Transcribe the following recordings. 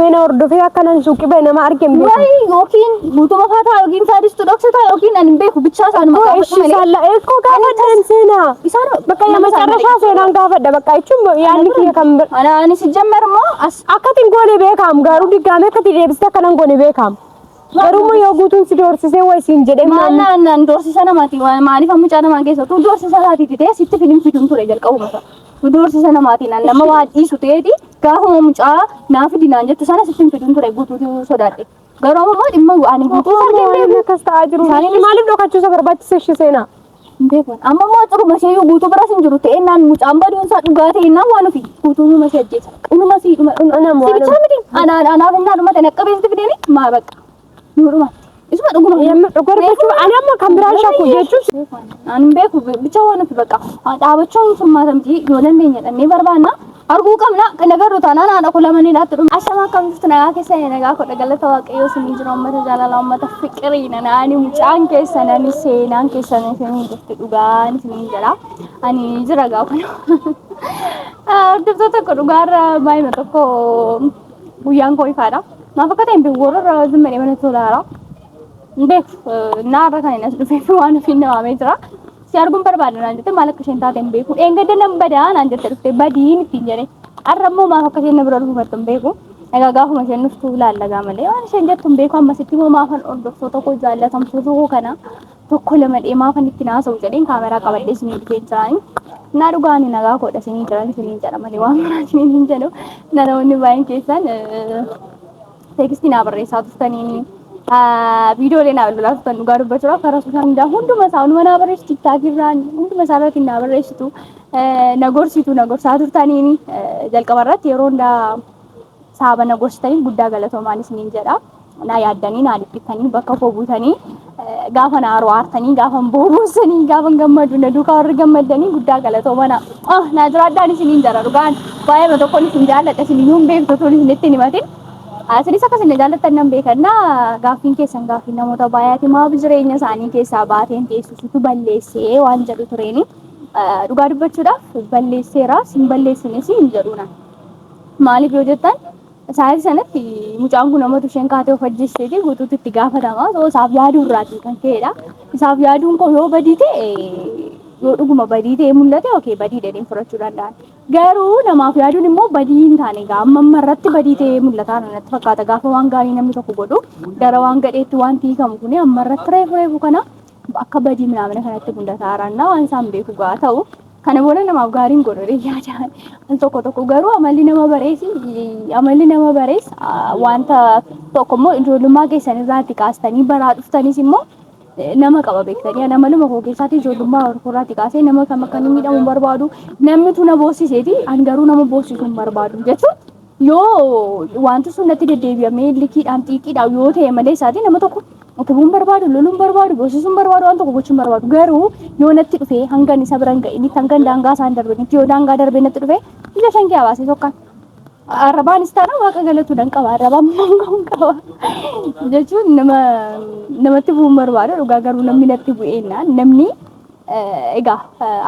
Meena hordofee akka nan suuqi ba'e nama arge hin beeku. Wayii yookiin guutuma faataa yookiin saadistu dhoksataa yookiin ani hin beeku bichaa isaan Koo maqaa ishii saalla eekkoo gaafadheen seenaa. Isaan Bakka yaa macarrashaa seenaan gaafadha bakka jechuun yaadni kiyya kan bira. Ana ani si jammar moo as Akkatiin goone beekaam garuu diggaamee akkatii deebiste akka nan goone beekaam. Garuu immoo yoo guutuun si doorsisee wayi siin jedhee maal maamni. naan naan doorsisa namaati maaliif amma mucaa namaa keessa utuu doorsisa isaatiiti ta'e sitti fidin fidun ture jalqabuma isaa. Nu doorsisa namaatiin an nama waa dhiisu ta'eeti gaafuma mucaa naa fidi naan jettu sana sittin fiduun ture guutuutu sodaadhe. Garuu amma immoo dhimma ani guutuu isaa Akkuma hin beeku. akkas ta'aa jiru. Isaanii- Maaliif dhokachuu isa barbaachise ishee seenaa? Hin beeku. Amma immoo xuruma ishee iyyuu guutuu biras hin jiru ta'ee naan mucaan baduun isaa dhugaa ta'e naan waan ofi guutuu numa ishee ajjeesa. Dhuma sii dhuma. Anam waan- Sibichaa miti. Anaan anaaf innaa dhuma ta'e naqqabeessitti fideeni maa bakka. Nuu dhumatti. Isuma dhuguma. Yamma dhugaa dubbachuu ani amma kan biraan shakku jechuus Ani hin beeku bicha waan nuti bakka dhaabachuun furmaata miti yoo dandeenya dhannee barbaanna. Arguu qabna kan agarru taanaan haadha koo lamanii dhaatti dhuma. Ashamaa kam jirtu nagaa keessa nagaa koo galata waaqayyoo isinii jira uummata jaalala uummata fiqiriina naani mucaan keessan ani seenaan keessan isinii jirti dhugaan isinii jira. Ani jira gaafa. Hordoftoota koo dhugaarra baay'ina tokko Guyyaan koo ifaadha. Maaf akka ta'e hin beeku warra irraa wajjin madhee mana tolaara. Hin beeku naa irra kan hin as dhufeef waan ofiin na waamee jira. Si arguun barbaada naan jette maal akka isheen taate hin beeku. Dheengadda nan badaa naan jette dhufte badiin ittiin jedhee. Har'a immoo maaf akka isheen na bira dhufattu hin beeku. Egaa gaafuma isheen dhuftu ilaallagaa malee waan isheen jettu hin beeku ammasitti immoo maafan hordoftoota koo jaallatamtoota koo kana tokko lama dhee maafan itti naasa'u jedheen kaameraa qabadhee isinii dhufee jiraani. Naa dhugaa ani nagaa koodha isinii jiran isiniin jedha malee waan biraa isiniin hin jedhu. Namoonni baay'een keessan teekstii naa barreessaa turtanii viidiyoolee naa lolaa turtan dhugaa dubbachuudhaaf karaa sooshaal miidiyaa hunduma isaa hunduma naa barreessitu tiktaakii irraan hunduma isaa irratti naa barreessitu na gorsitu na gorsaa turtaniini jalqaba irratti yeroo hundaa saaba na gorsitaniif guddaa galatoomaan isiniin jedha. naa yaaddanii naa dhiphittanii bakka koo buutanii gaafa naa aartanii gaafa boobuusanii gaafa gammadu na duukaa warri gammaddanii guddaa galatooma naa ah naa jiraaddaan isiniin jara dhugaan baay'ee tokkoon isin jaalladha isin iyyuu hin beektu tun isinitti hin himatin asinis akka isin na jaallattan nan beekanna gaaffiin keessan gaaffii namoota baay'aati maaf jireenya isaanii keessaa baateen teessisutu balleessee waan jedhu tureeni dhugaa dubbachuudhaaf balleesseera sin balleessines hin jedhuuna maaliif yoo jettan Sa'aatii sanatti mucaan kun amatu isheen kaatee of ajjeesteeti guutuutti itti gaafatama. Osoo isaaf yaaduu irraatiin kan ka'edha. Isaaf yaaduun koo yoo badii ta'e yoo dhuguma badii ta'e mul'ate okee badii dheedhiin fudhachuu danda'an. Garuu namaaf yaaduun immoo badii hin taane egaa amma amma irratti badii ta'e mul'ataa natti fakkaata gaafa waan gaarii namni tokko godhu gara waan gadheetti wanti hiikamu kun amma irratti reefu reefu kana akka badii minaamina kanatti gundata haaraannaa waan isaan beeku gaa ta'u kana booda namaaf gaariin godhore yaada al tokko tokko garuu amalli nama bareesi amalli nama barees wanta tokko immoo ijoollummaa keessan irraatti kaastanii baraa dhuftanis immoo nama qaba beektanii ana maluma koo keessaatii ijoollummaa irraatti kaasee nama kam akka inni miidhamu barbaadu namni tuna boossiseeti an garuu nama boossisu hin barbaadu jechuun Yoo wanti sun natti deddeebi'amee likiidhaan xiiqiidhaan yoo ta'e malee isaatii nama tokko utubuun barbaadu, loluun barbaadu, boosisuun barbaadu, waan tokko gochuun barbaadu. Garuu yoo natti dhufee hangan isa biran ga'initti hangan daangaa isaan darbanitti yoo daangaa darbee natti dhufee ija shan kee baasee tokkaan. Arrabaanis taana waaqa galatu nan qaba arrabaan mangoon qaba jechuun nama namatti bu'uun barbaada dhugaa garuu namni natti bu'eennaan namni Egaa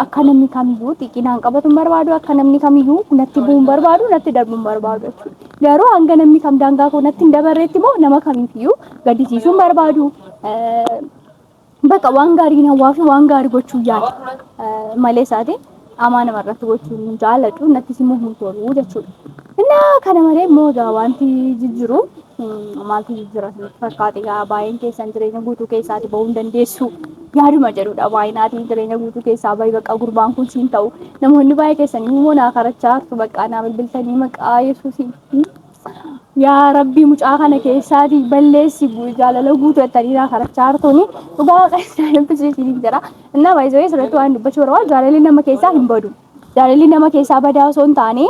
akka namni kamiyyuu xiqqinaan qabatu hin barbaadu, akka namni kamiyyuu natti bu'u hin barbaadu, natti darbu hin barbaadu jechuudha. Garuu hanga namni kam daangaa koo natti hin dabarreetti immoo nama kamiifiyyuu gaddisiisuu hin barbaadu. Bakka waan gaarii hin hawwaa fi waan gaarii gochuu yaada malee isaatiin Qaamaa namarratti gochuun hin jaaladhu, nattis immoo hin tolu jechuudha. Innaa kana malee immoo egaa wanti jijjiru mm, maaltu jijjira isinitti fakkaate egaa baay'een keessan jireenya guutuu keessaati bahuu hin dandeessu yaaduma jedhudha baay'inaatiin jireenya guutuu keessaa bahi bakka gurbaan kun siin ta'u namoonni baay'ee keessan immoo naa karachaa hartu bakka naa bilbiltanii maqaa yesuusiin mm, Yaa rabbii mucaa kana keessaati balleessi jaalala guutuu jettaniidha kadhachaa jirtuni dhugaa waaqa isaa dubbisuu isiniif jira innaa baay'isoo asirratti waan dubbachuu barbaadu jaalalli nama keessaa hin badu jaalalli nama keessaa badaa osoo hin taane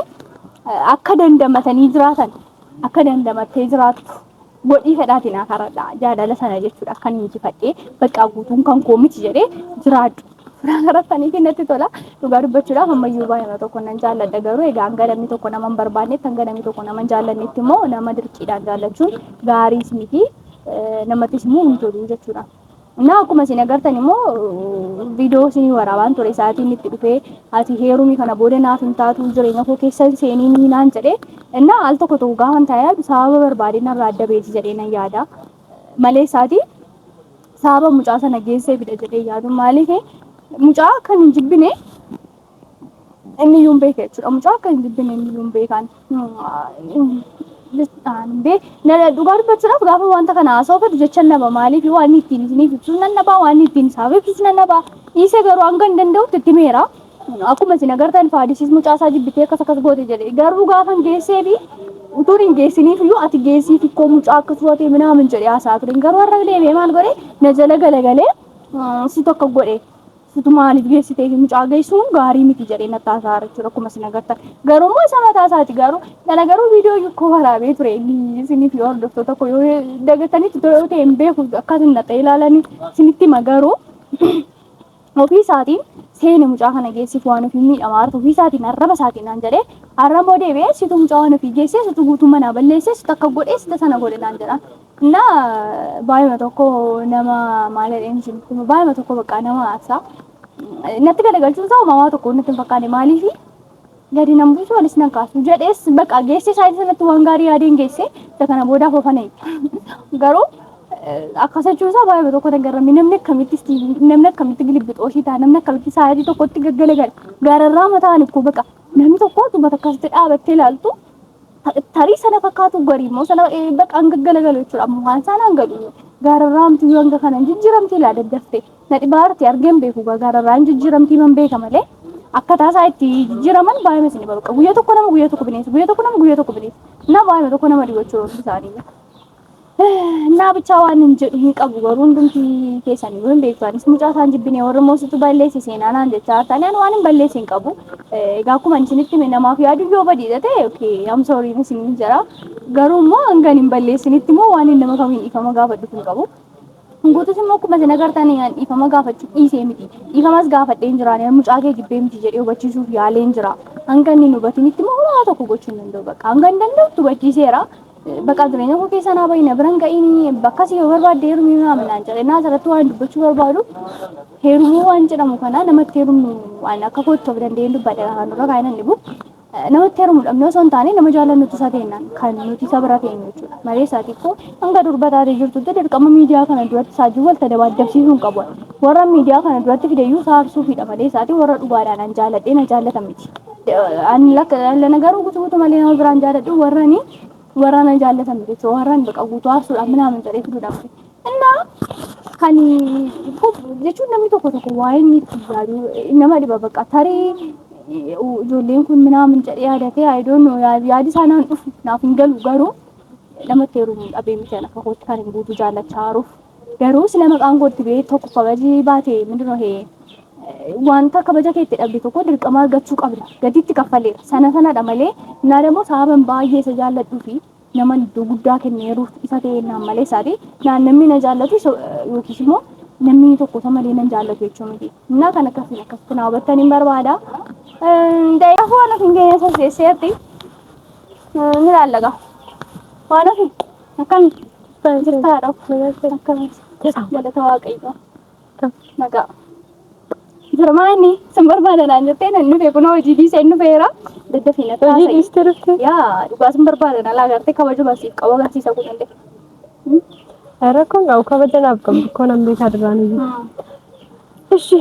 akka dandamatanii jiraatan akka dandamattee jiraattu Godhii fedhaati naa karadha jaalala sana jechuudha akkan injifadhee baqqaa guutuun kan koo miti jedhee jiraadhu. Suuraa karattanii fi natti tola dhugaa dubbachuudhaaf ammayyuu baay'ina tokko nan jaalladha garuu egaa hanga namni tokko nama hin barbaannetti hanga namni tokko nama hin jaallannetti immoo nama dirqiidhaan jaallachuun gaariis miti namattis immoo hin tolu jechuudha. Naa akkuma isin agartan immoo viidiyoo isin waraabaan ture sa'aatiin itti dhufee ati heerumi kana booda naaf hin taatu jireenya koo keessan seenii ni naan jedhe innaa al tokko tokko gaafa hin taa'e sababa barbaadee narraa adda beeti jedhee nan yaada malee isaati sababa mucaa sana geesseefidha jedhee yaadu maaliif mucaa kan hin jibbine Inni iyyuu hin beeka jechuudha. Mucaa akka hin jibbine inni iyyuu hin beekaan. Dhugaa dubbachuudhaaf gaafa wanta kana haasa'u fedhu jecha naba maaliif waan ittiin isiniif ibsus nan dhabaa waan ittiin isaaf ibsus nan dhabaa dhiisee garuu hanga hin danda'utti itti meera. Akkuma isin agartan faadisiis mucaa isaa jibbitee akkas akkas goote jedhe garuu gaafa hin geessee fi utuun hin geessiniif iyyuu ati geessii xiqqoo mucaa akka turatee minaamin jedhee haasa'aa ture garuu har'a deebi'ee maal godhe na jala galagalee si tokko godhe Situ maaliif geessitee fi mucaa geessuun gaarii miti jedhee natti haasa'aa jira jechuudha akkuma isin agartan. Garuu immoo isa mataa isaati garuu kana garuu viidiyoo yukkoo waraabee ture inni isinii fi hordoftoota koo yoo dagatanitti tole yoo ta'e hin beeku akka isin naqee ilaalanii isinitti hima garuu ofii isaatiin seene mucaa kana geessiif waan ofii miidhamaa jirtu ofii isaatiin arraba isaatiin naan jedhee arraba deebi'ee situ mucaa waan ofii geessee situ guutuu manaa balleessee situ akka godhee sita sana godhe naan jedhaan. እና baay'ima tokko nama maal jedheen isin hima baay'ima tokko bakka nama aarsa natti galagalchuun isaa uumamaa tokko natti hin fakkaane maaliif gadi nan buusu olis nan kaasu jedhees bakka geessee isaa sanatti waan gaarii yaadeen geesse isa kana boodaaf ofana garuu akkas jechuun isaa baay'ima tokko nan garramme namni akkamitti istiivii namni akkamitti gilibbixooshii ta'a namni akkamitti sa'aatii tokkotti gaggalagala gaararraa mataan ikkoo bakka namni tokko dubbata akkasitti dhaabattee ilaaltu Tarii sana fakkaatu garii immoo sana bakka hanga galagalu jechuudha. Amma waan isaan hanga dhufu gaararraa hamtuu yoo hanga kana hin jijjiiramti laa daddaftee. Na dhibaa arti argeen beeku gaa gaararraa hin jijjiiramti man beeka malee akkataa isaa itti jijjiiraman baay'ee isin bakka guyyaa tokko nama guyyaa tokko bineensi guyyaa tokko nama guyyaa tokko bineensi. Na baay'ee tokko nama dhibu jechuudha hundi isaanii. Naa bichaa waan hin jedhu hin qabu garuu hundumti keessanii yoo hin beektu anis mucaa isaan jibbine warri immoo situ balleesse seenaa naan jechaa taane ani waan hin balleesse hin qabu. Egaa akkuma isinitti hime namaaf yaadu yoo badiidha ta'e okay am sorry isiniin jira. Garuu immoo hanga hin balleessinitti immoo waan hin nama kamiin dhiifama gaafadhu hin qabu. Guutus immoo akkuma isin agartan an dhiifama gaafachuu dhiisee miti. Dhiifamas gaafadhee hin jiraane mucaa kee jibbee miti jedhee hubachiisuuf yaalee hin jira. Hanga inni hin hubatinitti immoo homaa tokko gochuu hin danda'u bakka hanga hin danda'utti hubachiiseera. Baqaa jireenya koo keessa naa bahi na biran ga'ini bakkas yoo barbaadde heerumii naa minaan jedhe naa asirratti waan dubbachuu barbaadu heerumuu waan jedhamu kana namatti heerumnu waan akka kootti of danda'een dubbadhe afaan dura kaa'ina hin dhibu namatti heerumu dhabnee osoo hin taane nama jaallannutti isa teenna kan nuti isa bira teenyu jechuudha malee isaati koo hanga durba taatee jirtutti dirqama miidiyaa kana duratti saajuu walta dabaaddabsiisuu hin qabu warra miidiyaa kana duratti fideyyuu isaa harsuufiidha malee isaati warra dhugaadhaan an jaalladhee na jaallatan miti. Ani lakka lana garuu gutu gutu malee nama biraan jaaladhu warrani warrana jaallatan jechuudha warran baqa guutuu aarsuudhaan minaamin jedhee fiduudhaan innaa kan jechuun namni tokko tokko waa'ee inni itti yaadu nama dhiba baqa tarii ijoolleen kun minaamin jedhee yaadatee ayidoon yaadi isaa naan dhufu naaf hin galu garuu namatti heerumuun dhabee miti akka kootti kan hin guutu jaallachaa haaruuf Garuu sila maqaan kootti bee tokko kabaji baate mindinoo hee wanta kabaja keetti dhabde tokko dirqama argachuu qabda gatiitti kaffaleera sana sanadha malee naa dammoo sababan baay'ee isa jaalladhuu fi naman iddoo guddaa kenneeruuf isa ta'e naan malee isaati naan namni na jaallatu yookiis immoo namni tokko isa malee nan jaallatu jechuu miti innaa kan akkasiin akkasitti naa hubattan hin barbaada da'iif waan ofiin keenya sasseesseetti ni laallaqa waan ofiin Akkami? Jirta haadha of akkami? Galata waaqayyoo. Nagaa. Jira maa inni sin barbaada naan jettee nan dhufe kunoo hojii dhiisee hin dhufeera. Daddafii na Hojii taasise. dhiistee dhufte? Yaa dhugaa sin barbaada na laagartee kabajuma siif qabu agarsiisa kun illee. Rakkoon qabu kabaja naaf qabdu koo nan beekaa duraan iyyuu. Ishi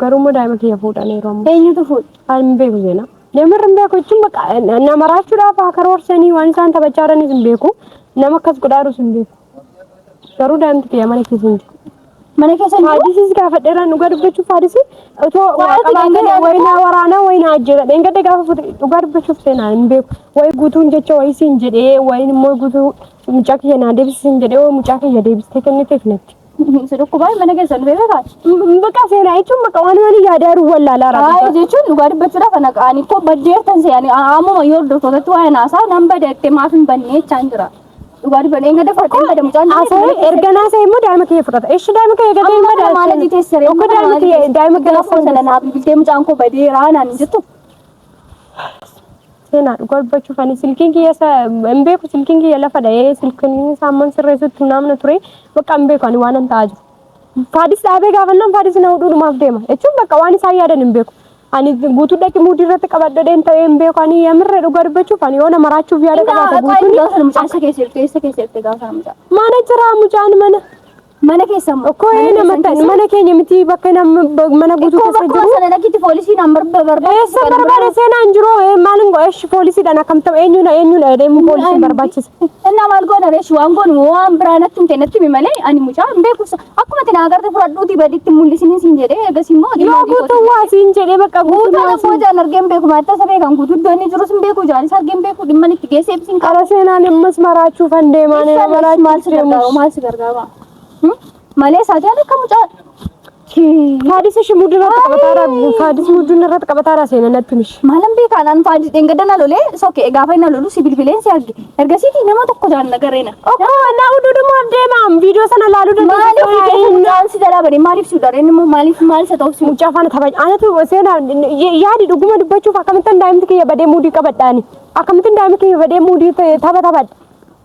Garuummoo daa'ima kiyya fuudhaniiru amma. Eenyutu fuudhe? Ani hin beeku seenaa. Namarra hin beeku jechuun bakka na maraachuudhaaf haa karoorsanii waan isaan taphachaa jiranis hin beeku. Nama akkas godhaa jirus hin beeku. Garuu daa'imti kiyya mana keessa hin jiru. Mana keessa hin jiru. Haadisiis gaafadheeraan dhugaa dubbachuuf haadisii otoo waa Waraana qabaatee deemaa wayi naa waraanaa wayi naa ajjeesa. Dheengadda gaafa fuute dhugaa dubbachuuf seenaa hin beeku. Wayi guutuun jecha wayi siin jedhee wayi immoo guutuu mucaa kiyya naa deebisi siin jedhee wayi mucaa kiyya deebistee kenniteef natti. Si dhukkubaa mana keessa nu beekaa baate. Bakka seenaa jechuun bakka waan waan yaadaa jiru wallaalaa Haaya raabbii. jechuun dhugaa dubbachuudhaaf ana ani koo baddeertan se'ani ammuma yoo hordoftootatti waa'ee naasaa nan badeette maaf hin bannee jechaan jira. Dhugaa dubbadhee hin gadafadhe hin badamu caan Asee erga naasee immoo daa'ima kiyya fudhata. Eshi daa'ima kiyya gatee hin badaasu. Okkoo daa'ima kiyya daa'ima kiyya Gaafa sana naa bilbiltee mucaan koo badeeraa naan hin jettu. Seenaa dhugaa dubbachuuf ani silkiin kiyya isa hin beeku silkiin kiyya lafa dha'ee silkiin isaa amman sirreessutti naamna ture bakka hin beeku ani waan an ta'aa jiru. Faadis dhaabee gaafannaan faadis na hudhuudhumaaf deema jechuun bakka waan isaan yaadan hin beeku. Ani guutuu dhaqi muudii irratti qabadhadheen ta'ee hin beeku ani yamirree dhugaa dubbachuuf ani yoona maraachuuf yaada qabaate guutuun. Mucaa isa keessa jirtu eessa keessa jirti gaafa mucaa? Mana jira mucaan mana. Mana keessan moo? Okkoo ee nama ta'an mana keenya miti bakka nama mana guutuu Koo keessa bakka jiru. sana lakkiti poolisiin an barba barbaachisa. Eessa barbaada seenaa hin jiru ee maal hin godhesh poolisiidhaan akkam ta'u eenyuudha eenyuudha jedhee immoo poolisiin barbaachisa. Innaa maal goona reesh waan goonu moo waan biraa natti hin kennatti mi malee ani mucaa hin beeku. Akkuma itti naa garte fudhadhuuti baditti mul'isiniin siin jedhee eegas immoo Yoo diimaa diikootu. guutuu waa siin jedhee bakka guutuu Guutuu waa tokko jaan argeen beeku maatta isa beekan guutuu iddoo inni jirus hin beeku jaanis argeen beeku dhimma itti geessee ibsiin qaba. Ala seenaan ammas maraachuuf han deemaan Maal si gargaaru maal si gargaaru. Malee isaa jaalatu akka mucaa. Faadis ishi muduu irratti qabataara faadis muduun irratti qabataara seena natti mishi. Maalan beekaa naan faadis dheengadda na lolee soke gaafa na lolu si bilbileen si arge. Ergasiiti nama tokko jaan na gareena. Okkoo naa uduu dhumaaf deemaam viidiyoo sana laaluu Maaliif dandeessu. mucaan si jalaa badee maaliif si udareen immoo maaliif maal isa ta'uuf si Mucaa faana tapha anatu seena yaadi dhuguma dubbachuuf akkamittan daa'imti kiyya badee muudii qabadhaani akkamittan daa'imti kiyya badee muudii tapha taphadha.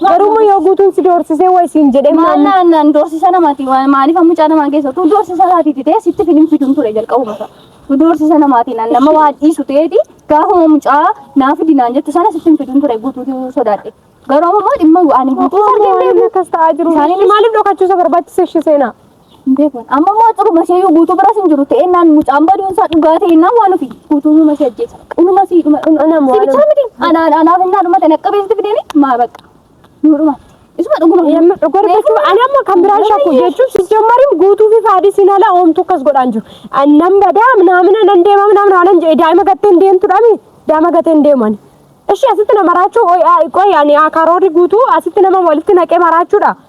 Garuu yoo guutuun si doorsisee waa isiin jedhee maal naan naan doorsisa namaati maaliif amma mucaa namaa geessa utuu doorsisa isaati didee sitti filiin fiduun ture jalqabuma isaa utuu doorsisa namaati naan nama waa dhiisu ta'eeti gaafuma mucaa naa fidi naan jettu sana sitti fiduun ture guutuutu sodaadhe garuu amma immoo dhimma ani guutuu sargee Waan beeku akkas ta'aa jiru. Isaanii- Maaliif dhokachuusa barbaachise ishee seenaa? Hin beeku. Amma immoo ciruma ishee yoo guutuu biras hin jiru ta'e naan mucaan baduun isaa dhugaa ta'e naan waan ofii guutuu numa si ajjeesa. Dhuma si dhuma. Kun ana moo Si bichaa miti. Anaa anaaf hin naa dhumate naqqa beekti fideni maa bakka. Nuu dhuma. Isuma dhuguma. Yamma dhugorfachuu ani amma kan biraan shakku jechuun sijjammarim guutuu fi faadii sin ala oomtu akkas godhaan jiru. Annan badaa naamina nan deema naamina anan jedhe daa'ima gatteen deemtudhaami daa'ima gatteen deeman. Ishi asitti na maraachuu qoy ani karoorri guutuu asitti nama walitti naqee maraachuudha.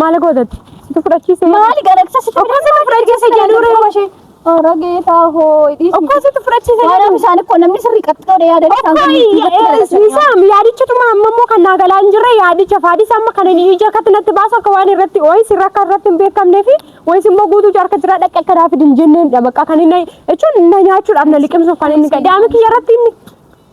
Maal gootatti? Situ fudhachiise. Maali galaksa situ Okkasitu fudhachiise jedhu reewa ishee. Ora geetaa hoo dhiisi. Okkasitu fudhachiise Waan jedhu. bishaan koo namni sirrii qaxxoo dha yaadanii isaan kun Okkoo dubbatti galaksa. isaam yaadichituma amma immoo kan naa galaa hin jirre yaadicha faadis amma kan inni ija akkatti natti baasu akka waan irratti wayis irra akka irratti hin beekamnee fi wayis immoo guutuu jaarka jira dhaqqa akka daafid hin jenneen dha bakka kan inni jechuun na nyaachuudhaaf na liqimsuuf kan inni daa'ima kiyya irratti inni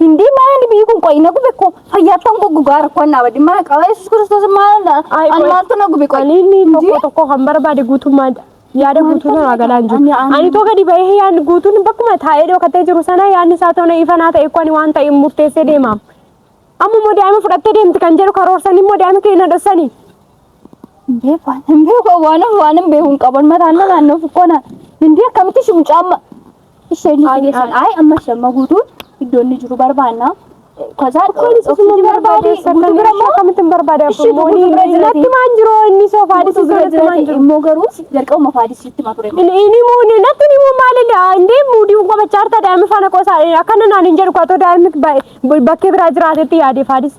Hindi maani biyyi kun qoyi na gube ko fayyaattan koo gugaa rakkoo annaa badde maa qaba yesus kiristoos maal an maaltu na gube qoyi. Aliilli tokko tokko kan barbaade guutummaa yaada guutuu irraa galaan jiru. Ani too gadi bahee yaadni guutuun bakkuma taa'ee dhokatee jiru sana yaadni isaa ta'u na ifanaa ta'e kwani waan ta'e murteessee deemaam. Amma immoo daa'ima fudhattee deemti kan jedhu karoorsan immoo daa'ima keenya dhossanii. Beekwaan beekwaan waanan waanan beekuun qaban mataan na naannoo fukkoona. Hindi akkamitti shimucaamma. Isaan ayi amma shamma guutuun iddoo inni jiru barbaanna. Kasaa oksijiin barbaade guutuu bira immoo akkamitti hin barbaade Ishii guutuu bira abboommooni jirate. natti maan jiru inni soo faadisi guutuu soo bira natti maan jirate jiru. immoo garuu jalqabuma faadisiitti ma ture. Ini ini muuni natti ni muu maalidha indee muudii unka bachaarta daa'imni faana qoosaa akkana naan hin jedhu kaatoo daa'imni bakkee biraa jiraatetti yaade faadisi.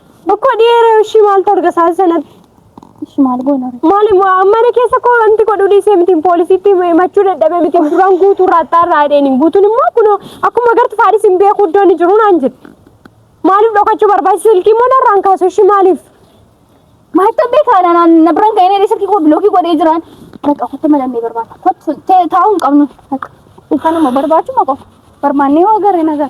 Bokkoo dhiyeera ishii maaltu arga saasi sanatti. Ishi maal goona? Maal immoo mana keessa koo wanti godhu dhiisee miti poolisiitti himachuu dadhabee miti duraan guutuu raattaa irraa hidheeni. Guutuun immoo kun akkuma agartu faadhis hin beeku iddoo inni jiru naan jedhe. Maaliif dhokachuu barbaachisa silkii immoo narraan kaasu ishii maaliif? Maalitti abbee kaana naan na biraan ka'ee dheedhee silkii koo bilookii godhee jiraan. Bakka kotti madannee barbaada. Kotti taa'uu hin qabnu. Bakka kanuma barbaachuma qofa. Barbaannee yoo agarre nagaa.